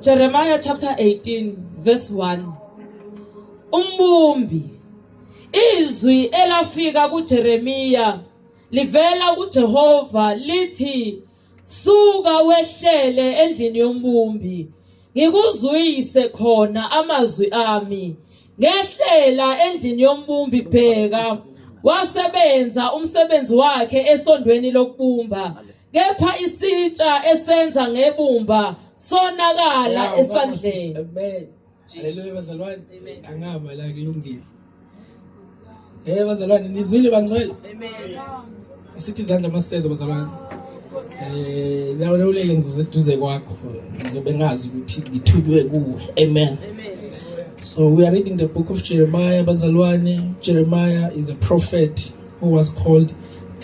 Jeremiah chapter 18 verse 1 Umbumbi izwi elafika kuJeremiya livela kuJehova lithi suka wehlele endlini yombumbi ngikuzwise khona amazwi ami ngehlela endlini yombumbi bheka wasebenza umsebenzi wakhe esondweni lokubumba kepha isitsha esenza ngebumba sonakala esandleni amen haleluya bazalwane angama la kulungile eh bazalwane nizwile bangcwele amen asithi izandla masithethe bazalwane eh lawo lewulele ngizoze eduze kwakho ngizobe ngazi ukuthi ngithunywe kuwe amen amen so we are reading the book of Jeremiah bazalwane Jeremiah is a prophet who was called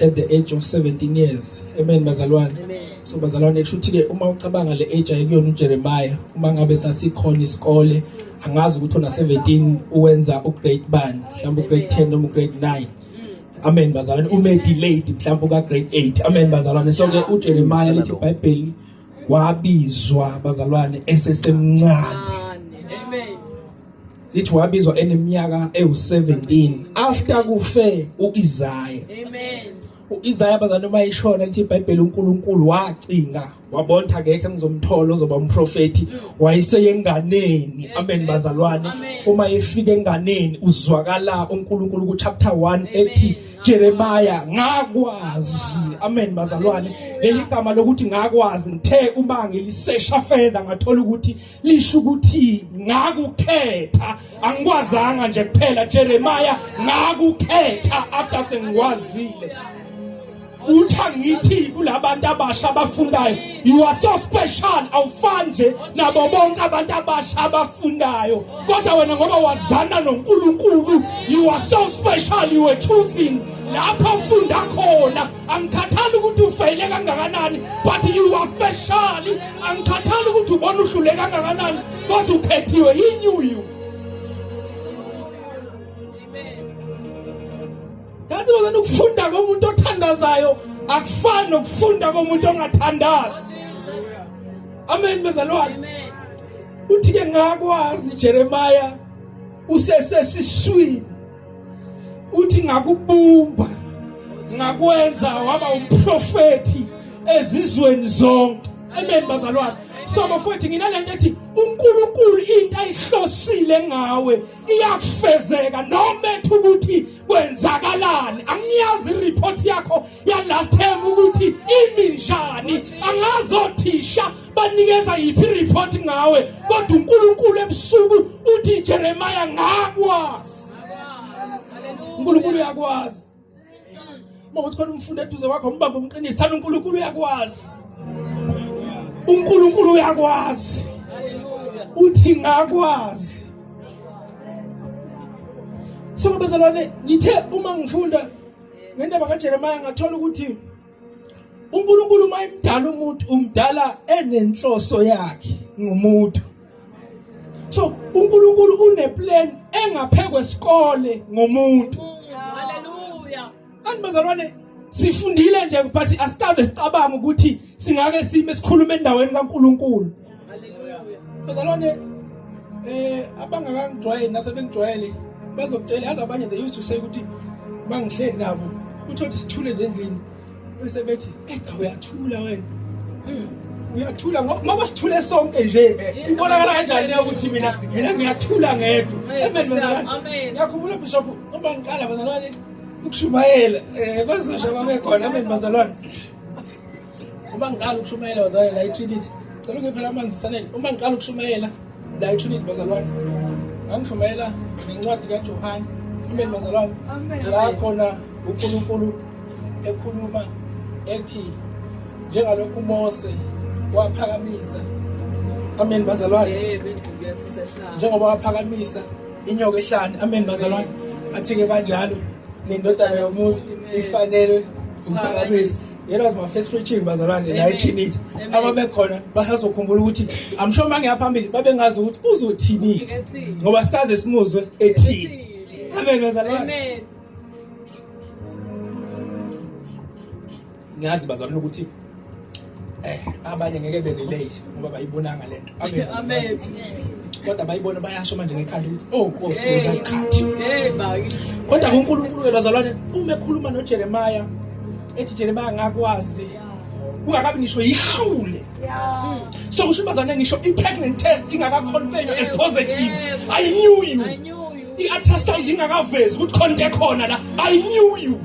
at the age of 17 years amen bazalwane so bazalwane kusho ukuthi-ke uma ucabanga le age ayikuyona ujeremiya uma ngabe sasikhona isikole angazi ukuthi ona-17 uwenza ugrade bani mhlawumbe ugrade 10 noma ugrade 9 amen bazalwane ume delayed mhlawumbe uka-grade 8 amen bazalwane so-ke ujeremiya lithi ibhayibheli wabizwa bazalwane esesemncane lithi wabizwa eneminyaka ewu17 after kufe uIsaya amen uIsaya bazana uma ishona lithi iBhayibheli uNkulunkulu wacinga wabonta ngeke ngizomthola uzoba umprofeti wayeseyenganeni amen bazalwane uma efika enganeni uzwakala uNkulunkulu ku chapter 1 ethi Jeremiah ngakwazi amen bazalwane leligama lokuthi ngakwazi ngithe uma ngilisesha further ngathola ukuthi lisho ukuthi ngakukhetha angikwazanga nje kuphela Jeremiah ngakukhetha after sengikwazile utha ngithi kulabantu abasha abafundayo you are so special awufani nje nabo bonke abantu abasha abafundayo kodwa wena ngoba wazana noNkulunkulu you are so special you were choosing lapho ufunda khona angikhathali ukuthi ufeyile kangakanani but you are special angikhathali ukuthi ubona uhlule kangakanani kodwa uphethiwe yinyuyu yazi bazana ukufunda komuntu othandazayo akufani nokufunda komuntu ongathandazi amen bezalwane uthi ke ngakwazi Jeremiah usesesiswini uthi ngakubumba ngakwenza waba umprofeti ezizweni zonke amen bazalwane so bafowethu nginalento ethi uNkulunkulu into ayihlosile ngawe iyakufezeka noma ethi ukuthi kwenzakalani angiyazi report yakho ya last time ukuthi imi njani angazothisha banikeza yiphi report ngawe kodwa uNkulunkulu ebusuku uthi Jeremiah ngakwazi uNkulunkulu uyakwazi uma uthi khona umfundi eduze wakho umbambe umqinise thana uNkulunkulu uyakwazi uNkulunkulu uyakwazi uthi ngakwazi so bezalwane ngithe uma ngifunda ngendaba kaJeremiah ngathola ukuthi uNkulunkulu uma emdala umuntu umdala enenhloso yakhe ngomuntu so uNkulunkulu uneplan engaphekwe isikole ngomuntu haleluya anibazalwane sifundile nje but asikaze sicabanga ukuthi singake sime sikhulume endaweni kaNkuluNkulu bazalwane eh abangakangijwayeli nasebengijwayele bazokutshela yazi abanye they used to say ukuthi mangihleli nabo uthole isithule endlini bese bethi echa uyathula wena hmm. uyathula ngoba sithule sonke nje ibonakala kanjani leyo ukuthi mina mina ngiyathula ngedwa amen bazalwane ngiyakhumbula bishop uma ngiqala bazalwane ukushumayela um eh, kwezasha babekhona amen bazalwane uma ngiqala ukushumayela bazalwane la itrinity cela ungiphe la manzi sanele uma ngiqala ukushumayela la itrinity bazalwane ngangishumayela ngencwadi kajohane amen bazalwane la khona unkulunkulu ekhuluma ethi njengalokhu umose waphakamisa amen bazalwane njengoba waphakamisa inyoka ehlane amen bazalwane athi-ke kanjalo nendodana yomuntu ifanelwe umphakamiso It was my first preaching bazalwane la eTrinity. Ababekhona basazokhumbula ukuthi I'm sure mangiya phambili babengazi ukuthi uzothini ngoba sikaze simuzwe ethini. Amen bazalwane. Amen. Ngiyazi bazalwane ukuthi eh abanye ngeke be relate ngoba bayibonanga lento. amethi kodwa bayibona bayasho manje ngekhanda ukuthi oh nkosi ngizaqhathi kodwa kuNkulunkulu ke bazalwane uma ekhuluma noJeremiah ethi Jeremiah ngakwazi ungakabi ngisho yihlule so kusho bazalwane ngisho i-pregnant test ingakaconfirm as positive i knew you i-ultrasound ingakavezi ukuthi khona into ekhona la i knew you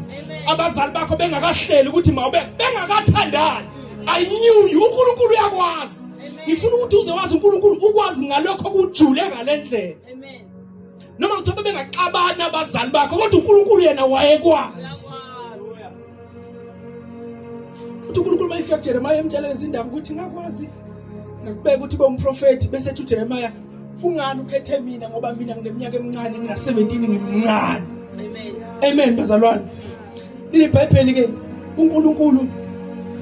abazali bakho bengakahleli ukuthi mawube bengakathandani i knew you uNkulunkulu uyakwazi ngifuna ukuthi uze wazi uNkulunkulu ukwazi ngalokho kujule ngalendlela amen noma kuthiwa bengaxabana abazali bakho kodwa uNkulunkulu yena wayekwazi uthi uNkulunkulu mayifika kuJeremiah emtshela lezindaba ukuthi ngakwazi ngakubeka ukuthi bomprofeti bese ethi uJeremiah kungani ukhethe mina ngoba mina ngineminyaka emincane ngina 17 ngimncane amen amen bazalwane Leli Bhayibheli ke uNkulunkulu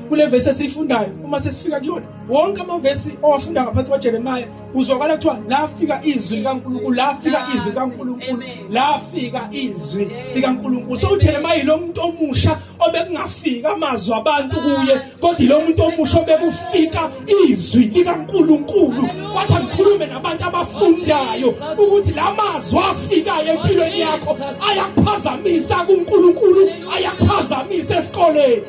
kule vesi esiyifundayo uma sesifika kuyona wonke amavesi owafunda ngaphansi kwaJeremiya uzwakala kuthiwa lafika izwi likaNkulunkulu lafika izwi likaNkulunkulu lafika izwi likaNkulunkulu so uJeremiya lo muntu omusha obekungafika amazwi abantu kuye kodwa lo muntu omusha obekufika izwi likaNkuluNkulu wathi angikhulume nabantu abafundayo ukuthi lamazwi afikayo empilweni yakho ayakuphazamisa kuNkuluNkulu ayakuphazamisa esikoleni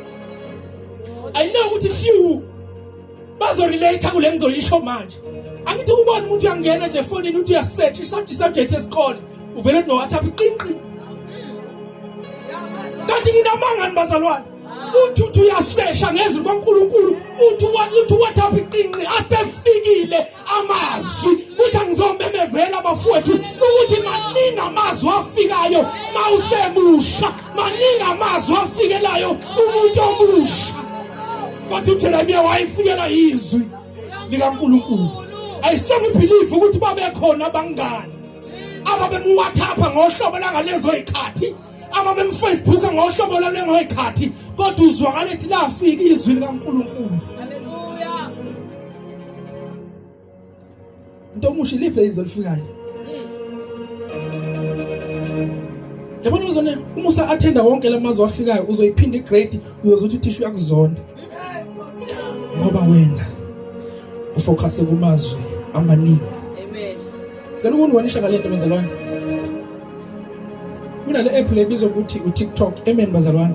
i know ukuthi few bazorelate kule ngizoyisho manje angithi ubona umuntu uyangena nje efonini uthi uyasearch isubject esikole uvele no WhatsApp iqinqi kanti nginamanga nibazalwane uthi uthi uyasesha ngezwi kwaNkulunkulu uthi uthi wathapha iqinqi asefikile amazwi kuthi angizomemezela bafowethu ukuthi maningi amazwi afikayo mawusemusha maningi amazwi afikelayo umuntu omusha kodwa uJeremiya wayefikela izwi likaNkulunkulu ayisitshela ubelieve ukuthi babekhona abangani ababemuwathapha ngohlobo langalezo zikhathi ababemfacebook ngohlobo lwalengoyikhathi kodwa uzwakala ethi lafika izwi likaNkulunkulu haleluya into omusha iliphi izwi elifikayo yabona uzone uma usa attenda wonke lamazwi afikayo uzoyiphinda igrade uyozothi uthisha uyakuzonda ngoba wena ufocuse kumazwi amaningi amen cela ukungibonisha ngalento bezalwane kunale app le bizwa ukuthi utiktok amen bazalwane